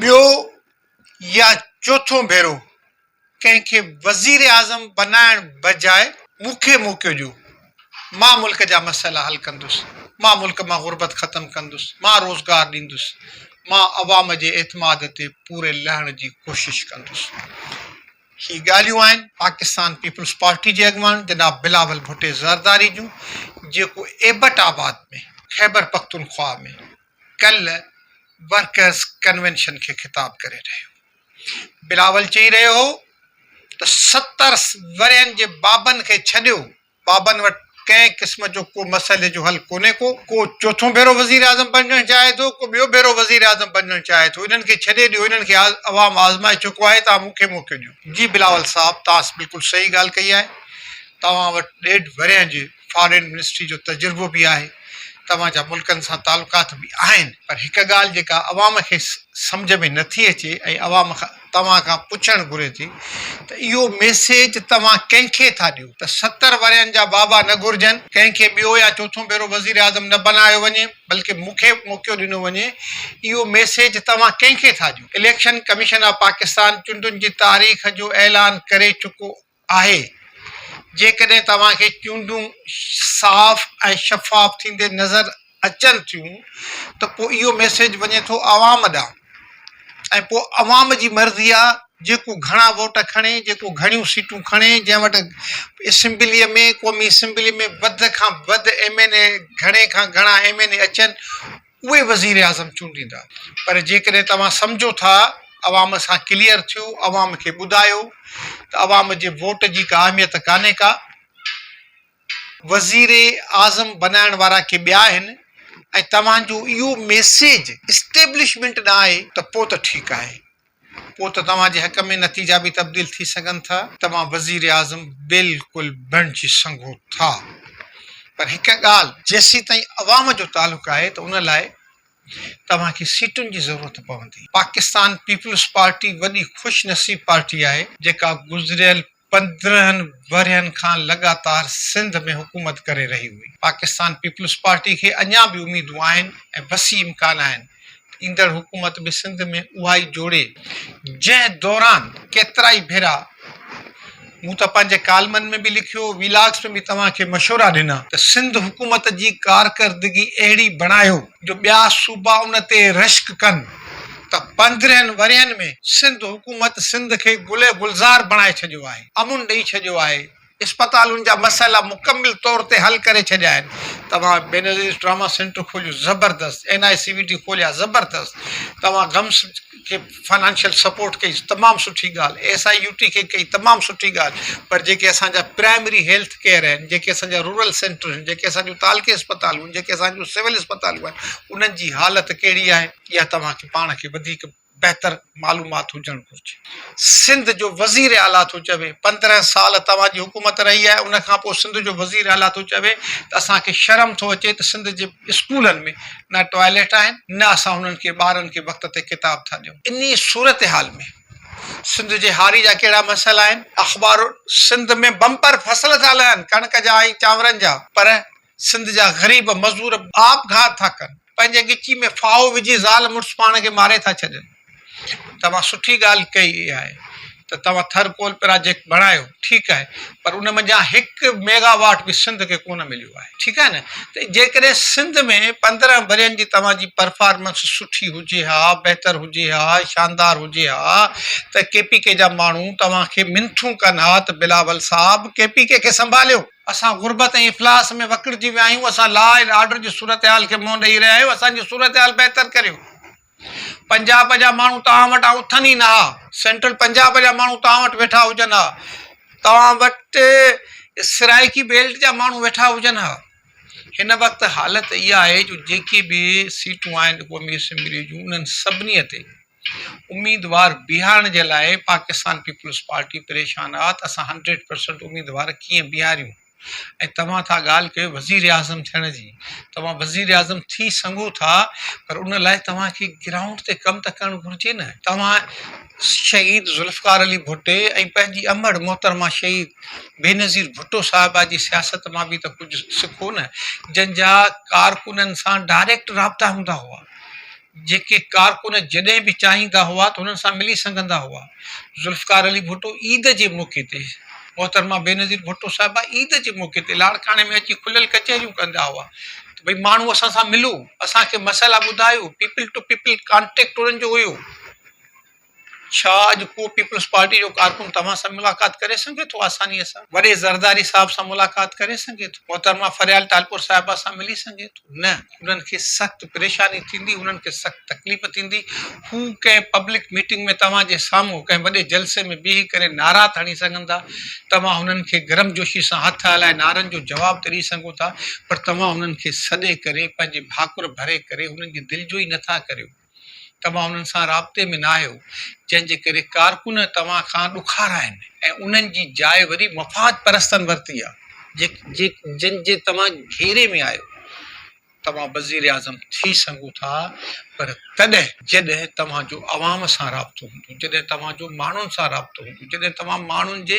ٻيو يا چوٿون ڀيرو ڪنهن کي وزيراعظم بنائڻ بجاء مون کي موقعو ڏيو، مان ملڪ جا مسئلا حل ڪندس، مان ملڪ مان غربت ختم ڪندس، مان روزگار ڏيندس، مان عوام جي اعتماد تي پوري لهڻ جي ڪوشش ڪندس. هي ڳالهيون آهن پاڪستان پيپلز پارٽي جي اڳواڻ جناب بلاول ڀٽي زرداري جون جيڪو ايبٽ آباد ۾ خيبرپختونخواهه ۾ ڪل ورڪرز ڪنوينشن کي خطاب ڪري رهيو بلاول چئي رهيو هو ته ستر ورهين جي بابن کي ڇڏيو، بابن وٽ ڪنهن قسم جو ڪو مسئلي جو حل ڪونهي ڪو، ڪو چوٿون ڀيرو وزيراعظم بنجڻ چاهي ٿو ڪو ٻيو ڀيرو وزيراعظم بنجڻ چاهي ٿو انهن کي ڇڏي ڏيو انهن کي عوام آزمائي چڪو آهي توهان مون کي موقعو ڏيو. جي بلاول صاحب توهان بلڪل صحيح ڳالهه ڪئي آهي توهان وٽ ڏيڍ ورهين جي فارين منسٽري جو تجربو به آهي، توهان جا ملڪن سان تعلقات به آهن، پر هڪ ڳالهه جيڪا عوام کي سمجهه ۾ نٿي اچي ۽ عوام توهان کان پڇڻ گهري ٿي ته اهو ميسيج توهان ڪنهن کي ٿا ڏيو ته ستر ورهين جا بابا نه گهرجن، ڪنهن کي ٻيو يا چوٿون ڀيرو وزيراعظم نه بنايو وڃي بلڪه مون کي موقعو ڏنو وڃي، اهو ميسيج توهان ڪنهن کي ٿا ڏيو؟ اليڪشن ڪميشن آف پاڪستان چونڊن جي تاريخ جو اعلان ڪري چڪو آهي جيڪڏهن توهان کي چونڊون صاف ۽ شفاف ٿيندي نظر اچن ٿيون ته پوء اهو ميسيج وڃي ٿو عوام ڏانهن ۽ پوء عوام جي مرضي آهي جيڪو گهڻا ووٽ کڻي جيڪو گهڻيون سيٽون کڻي جنهن وٽ اسيمبلي ۾ قومي اسيمبلي ۾ وڌ کان وڌ ايم اين اي گهڻي کان گهڻا ايم اين اي اچن اهي وزيراعظم چونڊيندا. پر جيڪڏهن توهان سمجهو ٿا عوام سان ڪليئر ٿيو عوام کي ٻڌايو ته عوام جي ووٽ جي ڪا اهميت ڪانهي ڪا. وزير اعظم بنائڻ وارا ڪي ٻيا آهن ۽ توهان جو اهو ميسيج اسٽيبلشمينٽ ڏانهن آهي ته پوء ته ٺيڪ آهي پوء ته توهان جي حق ۾ نتيجا به تبديل ٿي سگهن ٿا. توهان وزيراعظم بلڪل بڻجي سگهو ٿا پر هڪ ڳالهه جيسيتائين عوام جو تعلق آهي ته ان لاء توهان کي سيٽن جي ضرورت پوندي. پاڪستان پيپلز پارٽي وڏي خوش نصيب پارٽي آهي جيڪا گذريل پندرهن ورهين کان لڳاتار سنڌ ۾ حڪومت ڪري رهي هئي. پاڪستان پيپلز پارٽي کي اڃا به اميدون آهن ۽ وسيع امڪان آهن ته ايندڙ حڪومت به سنڌ ۾ اها ئي جوڙي، جنهن دوران ڪيترائي ڀيرا مون ته پنهنجي ڪالمن ۾ به لکيو، ويلاگز ۾ به توهان کي مشورا ڏنا ته سنڌ حڪومت جي ڪارڪردگي اهڙي بڻايو، جو ٻيا صوبا ان تي رشڪ ڪن ته پندرهن ورهين ۾ سنڌ حڪومت سنڌ کي گل گلزار بڻائي ڇڏيو آهي، امن ڏئي ڇڏيو آهي، اسپتالن جا مسئلا مڪمل طور تي حل ڪري ڇڏيا آهن، توهان بينظير ٽراما سينٽر کوليو زبردست، N I C V T کوليا زبردست، توهان گمس. کي فنانشل سپورٽ ڪئي تمام سٺي ڳالهه ايس آء يو ٽي کي ڪئي تمام سٺي ڳالهه پر جيڪي اسانجا پرائمري هيلٿ ڪيئر آهن جيڪي اسانجا رورل سينٽر آهن جيڪي اسانجو تعلقي اسپتالون آهن جيڪي اسانجو سول اسپتالون آهن انهن جي حالت ڪهڙي آهي اها توهان کي پاڻ کي وڌيڪ بهتر معلومات هجڻ گهرجي سنڌ جو وزير اعليٰ ٿو چوي پندرهن سال توهان جي حڪومت رهي آهي ان کان پوء سنڌ جو وزير اعليٰ ٿو چوي ته اسان کي شرم ٿو اچي ته سنڌ جي اسڪولن ۾ نه ٽوائليٽ آهن نه اسان انهن کي ٻارن کي وقت تي ڪتاب ٿا ڏيون انهي صورتحال ۾ سنڌ جي هاري جا ڪهڙا مسئلا آهن اخبارون سنڌ ۾ بمپر فصل ٿا لهن ڪڻڪ جا ۽ چانورن جا پر سنڌ جا غريب مزور آپگهات ٿا ڪن پنهنجي ڳچي ۾ ڦاهو وجهي زال مڙس پاڻ کي ماري ٿا ڇڏين. توهان سٺي ڳالهه ڪئي آهي ته توهان ٿر ڪول پراجيڪٽ بڻايو ٺيڪ آهي پر ان منجهان هڪ ميگا واٽ به سنڌ کي ڪونه مليو آهي ٺيڪ آهي نه ته جيڪڏهن سنڌ ۾ پندرهن ورهين جي توهان جي پرفارمنس سٺي هجي ها بهتر هجي ها شاندار هجي ها ته ڪي پي ڪي جا ماڻهو توهان کي منٿون ڪن ها ته بلاول صاحب ڪي پي ڪي کي سنڀاليو اسان غربت ۽ افلاس ۾ وڪڙجي ويا آهيون اسان لا اينڊ آرڊر جي صورتحال کي منهن ڏئي رهيا آهيون اسان جي صورتحال بهتر ڪريو. پنجاب جا ماڻهو توهان وٽان اٿن ئي نه ها. سينٽرل پنجاب جا ماڻهو توهان وٽ ويٺا هجن ها. توهان وٽ سرائيڪي بيلٽ جا ماڻهو ويٺا هجن ها. هن وقت حالت اها آهي جو جيڪي به سيٽون آهن قومي اسيمبلي جون انهن سڀني تي اميدوار بيهارڻ جي لاء پاڪستان پيپلز پارٽي پريشان آهي ته اسان هنڊريڊ پرسنٽ اميدوار ڪيئن بيهاريون. ۽ توهان ٿا ڳالهه ڪيو وزيراعظم ٿيڻ جي، توهان وزيراعظم ٿي سگهو ٿا پر ان لاء توهان کي گرائونڊ تي ڪم ته ڪرڻ گهرجي نه. توهان شهيد ذوالفقار علي ڀٽي ۽ پنهنجي امڙ محترمه شهيد بينظير ڀٽو صاحبه جي سياست مان به ته ڪجهه سکو نه، جن جا ڪارڪنن سان ڊائريڪٽ رابطا هوندا هئا. جيڪي ڪارڪن جڏهن به چاهيندا هئا ته هنن سان ملي سگهندا هئا. ذوالفقار علي ڀٽو عيد جي موقعي تي محترمه بينظير ڀٽو صاحبه عيد جي موقعي تي لاڙڪاڻي ۾ اچي کليل ڪچهريون ڪندا هئا ته ڀئي ماڻهو اسان سان ملو اسان کي مسئلا ٻڌايو پيپل ٽو پيپل ڪانٽيڪٽ انهن جو هيو. ڇا اڄ ڪو پيپلز پارٽي جو ڪارڪن توهان سان ملاقات ڪري سگهي ٿو آسانيء سان؟ وڏي زرداري صاحب سان ملاقات ڪري سگهي ٿو؟ محترمه فريال ٽالپور صاحبه سان ملي سگهي ٿو؟ نه. انهن کي سخت پريشاني ٿيندي، انهن کي سخت تڪليف ٿيندي. هو ڪنهن پبلڪ ميٽنگ ۾ توهان جي سامهون، ڪنهن وڏي جلسي ۾ بيهي ڪري نعرا ته هڻي سگهن ٿا. توهان هنن کي گرمجوشي سان هٿ هلائي نعرن جو جواب ته ڏئي سگهو ٿا، پر توهان هنن کي سڏي ڪري، پنهنجي ڀاڪر ڀري ڪري، هنن جي دلجوئي نٿا ڪريو. توهان انهن سان رابطي ۾ ناهيو، جنهن جي ڪري ڪارڪن توهان کان ڏکار آهن ۽ انهن جي جاء وري مفاد پرستن ورتي آهي. جن جي توهان گهيري ۾ آهيو. توهان وزيراعظم ٿي سگهو ٿا پر تڏهن جڏهن توهان جو عوام سان رابطو هوندو. جڏهن توهان جو ماڻهن سان رابطو هوندو، جڏهن توهان ماڻهن جي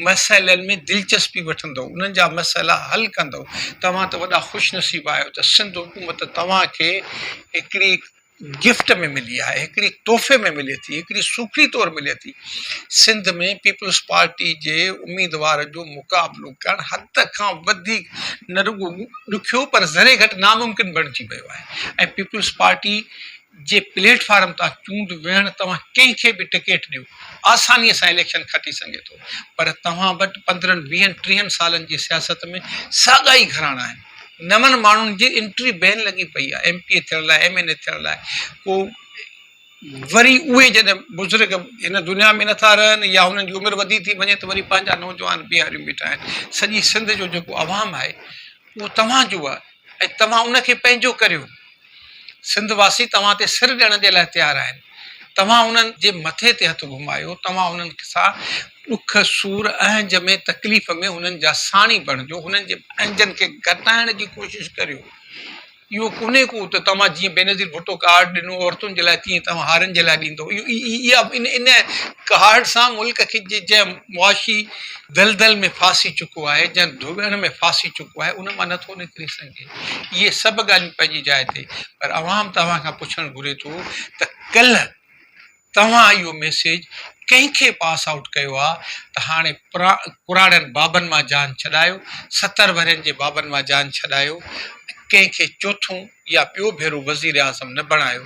مسئلن ۾ دلچسپي وٺندؤ، انهن جا مسئلا حل ڪندؤ، توهان ته وڏا خوش نصيب آهيو ته سنڌ حڪومت توهان کي هڪڙي گفٽ ۾ ملي آهي، هڪڙي تحفي ۾ ملي ٿي، هڪڙي سوکڙي طور ملي ٿي. سنڌ ۾ پيپلز پارٽي جي اميدوار جو مقابلو ڪرڻ حد کان وڌيڪ نه رڳو ڏکيو پر ذري گهٽ ناممڪن بڻجي ويو آهي ۽ پيپلز پارٽي جي پليٽ فارم تان چونڊ ويهڻ توهان ڪنهن کي به ٽڪيٽ ڏيو آساني سان اليڪشن کٽي سگهي ٿو پر توهان وٽ پندرهن ويهن ٽيهن سالن جي سياست ۾ ساڳا ئي گهراڻا آهن نون ماڻهن جي انٽري بين لڳي پئي آهي ايم پي اي ٿيڻ لاء ايم اين اي ٿيڻ لاء ڪو وري اهي جڏهن بزرگ هن دنيا ۾ نٿا رهن يا هنن جي عمر وڌي ٿي وڃي ته وري پنهنجا نوجوان بيهاريون بيٺا آهن سڄي سنڌ جو جيڪو عوام آهي اهو توهان جو آهي ۽ توهان ان کي پنهنجو ڪريو سنڌ واسي توهان تي سر ڏيڻ جي لاء تيار آهن. توهان انهن جي مٿي تي هٿ گهمايو، توهان انهن سان ڏک، سور، اهنج ۾ تڪليف ۾ انهن جا ساڻي بڻجو، انهن جي اهنجن کي گهٽائڻ جي ڪوشش ڪريو. اهو ڪونهي ڪو ته توهان جيئن بينظير ڀٽو ڪارڊ ڏنو عورتن جي لاء تيئن توهان هارين جي لاء ڏيندو. اها ان ڪارڊ سان ملڪ کي جنهن معاشي دلدل ۾ ڦاسي چڪو آهي، جنهن ڌوٻڻ ۾ ڦاسي چڪو آهي، ان مان نٿو نڪري سگهي. اهي سڀ ڳالهيون پنهنجي جاء تي پر عوام توهان کان پڇڻ گهري ٿو ته ڪلهه توهان اهو ميسيج ڪنهن کي پاس آئوٽ ڪيو آ ته هاڻي پراڙن بابن مان جان ڇڏايو، ستر ورهين جي بابن مان جان ڇڏايو، ڪنهن کي چوٿون يا ٻيو ڀيرو وزيراعظم نه بڻايو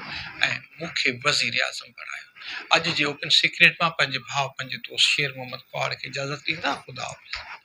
۽ مون کي وزيراعظم بڻايو. اڄ جي اوپن سيڪريٽ مان پنهنجي ڀاء پنهنجي دوست شير محمد ڪهاڙ کي اجازت ڏيندا. خداحافظ.